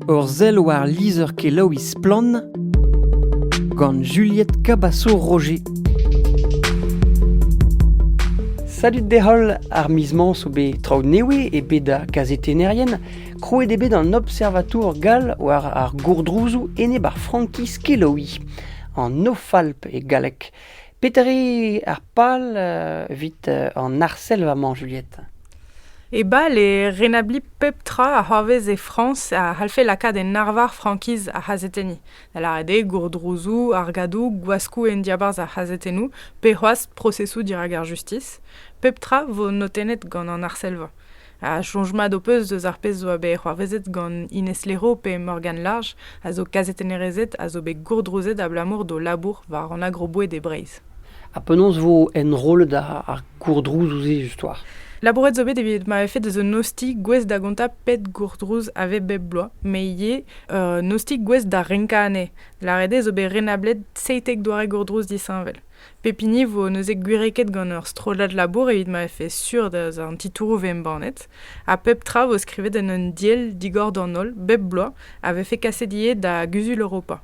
Ur sell war lizher-kelaouiñ Splann! gant Juliette Cabasso-Roger. Salut d'e-holl, ar miz-mañ zo bet traoù newe e bed da kazetennerien. Krouet eo bet an observatour gall war ar gourdrouzoù enep ar frankiz kelaouiñ, an Nofalp e galleg. Petre ar pal evit an arsellva-mañ, Juliette? E bal eo renabliñ pep tra a c'hoarvez e Frañs a c'hallfe lakaat en arvar frankiz ar c'hazetenniñ, da lâret eo gourdrouzoù, argadoù, gwaskoù en diabarzh ar c'hazetennoù pe c'hoazh prosesoù dirak ar justis. Pep tra vo notennet gant an arsellva. Ha soñj mat ho peus eus ar pezh zo bet c'hoarvezet gant Ines Lero pe Morgane Large, a zo kazetennerezed a zo bet gourdrouzet abalamour d'o labour war an agroboed e Breizh? Ha penaos vo enrollet ar gourdrouzoù-se justoire? Labouret zo bet evit ma vefe deus un ostilh gouest da gontañ pet gourdrouz a vez bep bloaz, met ivez un ostilh gouest da renkañ anezhe. Lâret eo zo bet renablet seitek doare gourdrouz disheñvel. Pep hini vo neuze gwireket gant ur strollad labour evit ma vefe sur da an titouroù vo embannet, ha pep tra vo skrivet en un diell digor d'an holl bep bloaz a vefe kaset ivez da Guzul Europa.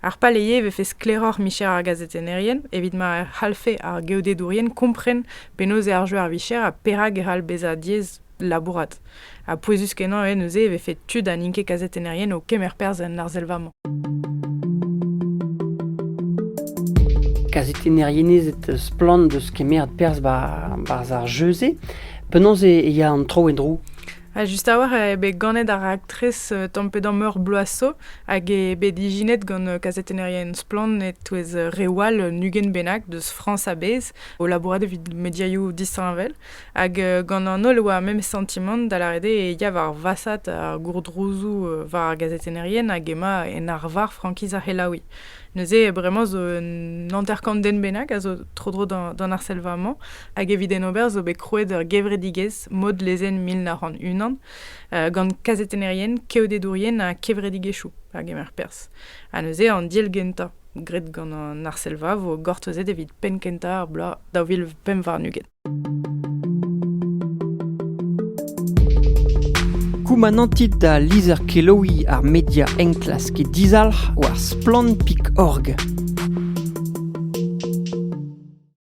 Ar paleye e vefe sklaeroc'h micher ar gazetennerien evit ma c'hallfe ar geodedourien kompren penaos eo ar jeu ar vicher ha perak e c'hall bezañ diaes labourat. Ha pouezus-kenañ eo neuze e vefe tud ha n'int ket kazetennerien o kemer perzh en arsellva-mañ. Kazetennerien ez eus splann deus kemeret perzh barzh ar jeu-se. Penaos e ya an tro en-dro Ha just a-walc'h eo bet ganet ar raktres euh, tamm-pe-damm meur bloaso hag eo bet ijinet gant euh, kazetennerien splann e-touez euh, reoù all un ugent bennak deus Frañs a-bezh o labourat evit mediaioù disheñvel. Hag gant an holl e oa memes santimant da lâret eo e ya war vasat ar gourdrouzoù war ar gazetennerien hag emañ en arvar frankiz ar c'helaouiñ. Neuze bremañ zo un hanter-kant den bennak a zo tro-dro d'an arsellva-mañ hag evit en ober zo bet krouet ur gevredigezh mod lezenn mil nav c'hant unan gant kazetennerien, keodedourien ha kevredigezhioù a gemer perzh. Ha neuze an deal gentañ graet gant an Arselva vo gortozet evit penn kentañ ar bloaz daou vil pemp warn-ugent. Koumanantit da lizher-kelaouiñ ar media enklask e dizalc'h war splann.org.